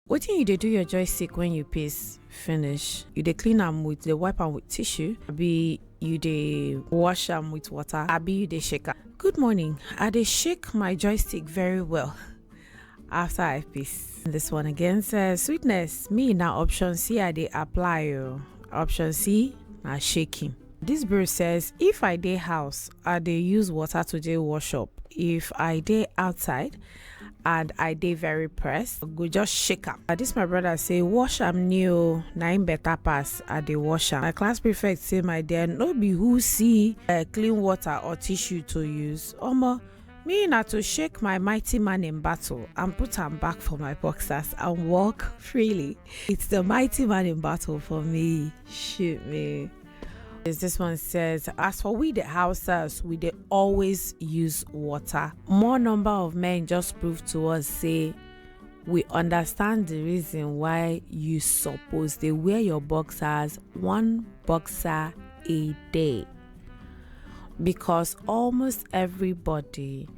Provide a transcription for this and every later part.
wetin you dey do your joystick when you piss finish you dey clean am with dey wipe am with tissue abi you dey wash am with water abi you dey shake am good morning i dey shake my joystick very well after i piss this one again says sweetness me na option c i dey apply o option c na shaking this bird says if i dey house i dey use water to dey wash up if i dey outside and i dey very pressed go just shake am na this my brother say wash am new na im better pass i dey wash am my class prefect say my dear no be who see uh, clean water or tissue to use omo me na to shake my mighty man in battle and put am back for my boxers and walk freely it's the mighty man in battle for me shoot me Is this one says, as for we the houses, we they always use water. More number of men just prove to us say we understand the reason why you suppose they wear your boxers one boxer a day because almost everybody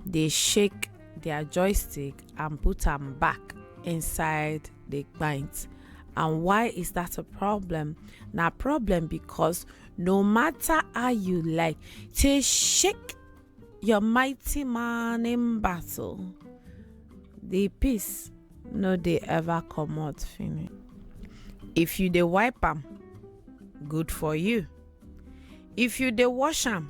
they shake their joystick and put them back inside dey gbaint and why is that a problem na problem because no matter how you like to shake your mighty man in battle the peace no dey ever comot finish if you dey wipe am good for you if you dey wash am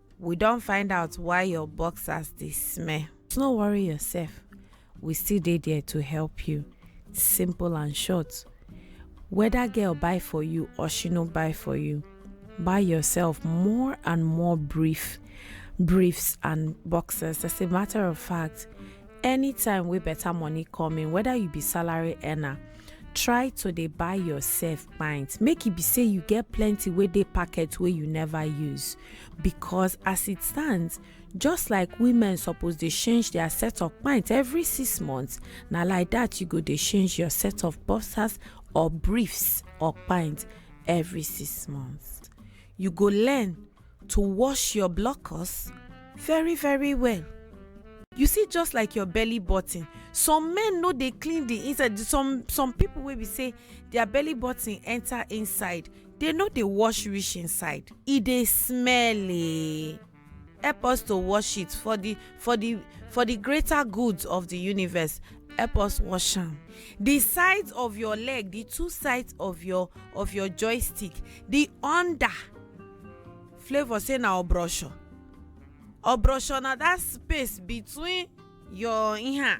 We don find out why your boxers dey smell. No worry yourself, we still dey there to help you. Simple and short. Whether girl buy for you or she no buy for you, buy yourself more and more brief, briefs and boxers. As a matter of fact, anytime wey better money come in, whether you be salary earner try to dey buy yourself pint make e be say you get plenty wey dey packet wey you never use because as it stands just like women suppose dey change their set of pint every six months na like that you go dey change your set of boxers or briefs or pint every six months you go learn to wash your blockers very very well you see just like your belly button some men no dey clean the inside some some people wey be say their belly button enter inside they no dey wash reach inside e dey smell eh help us to wash it for the for the for the greater good of the universe help us wash am the sides of your leg the two sides of your of your joystick the under flavour say na obrosho obrosho na that space between your iha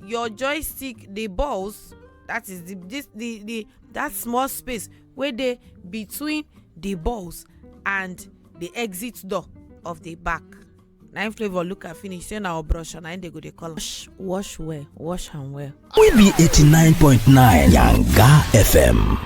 your joystick the balls that is the this the the that small space wey dey between the balls and the exit door of the back na im flavour look am finish say na obrosho na im dey go dey call am wash wash well wash am well. We be 89.9 Yanga FM.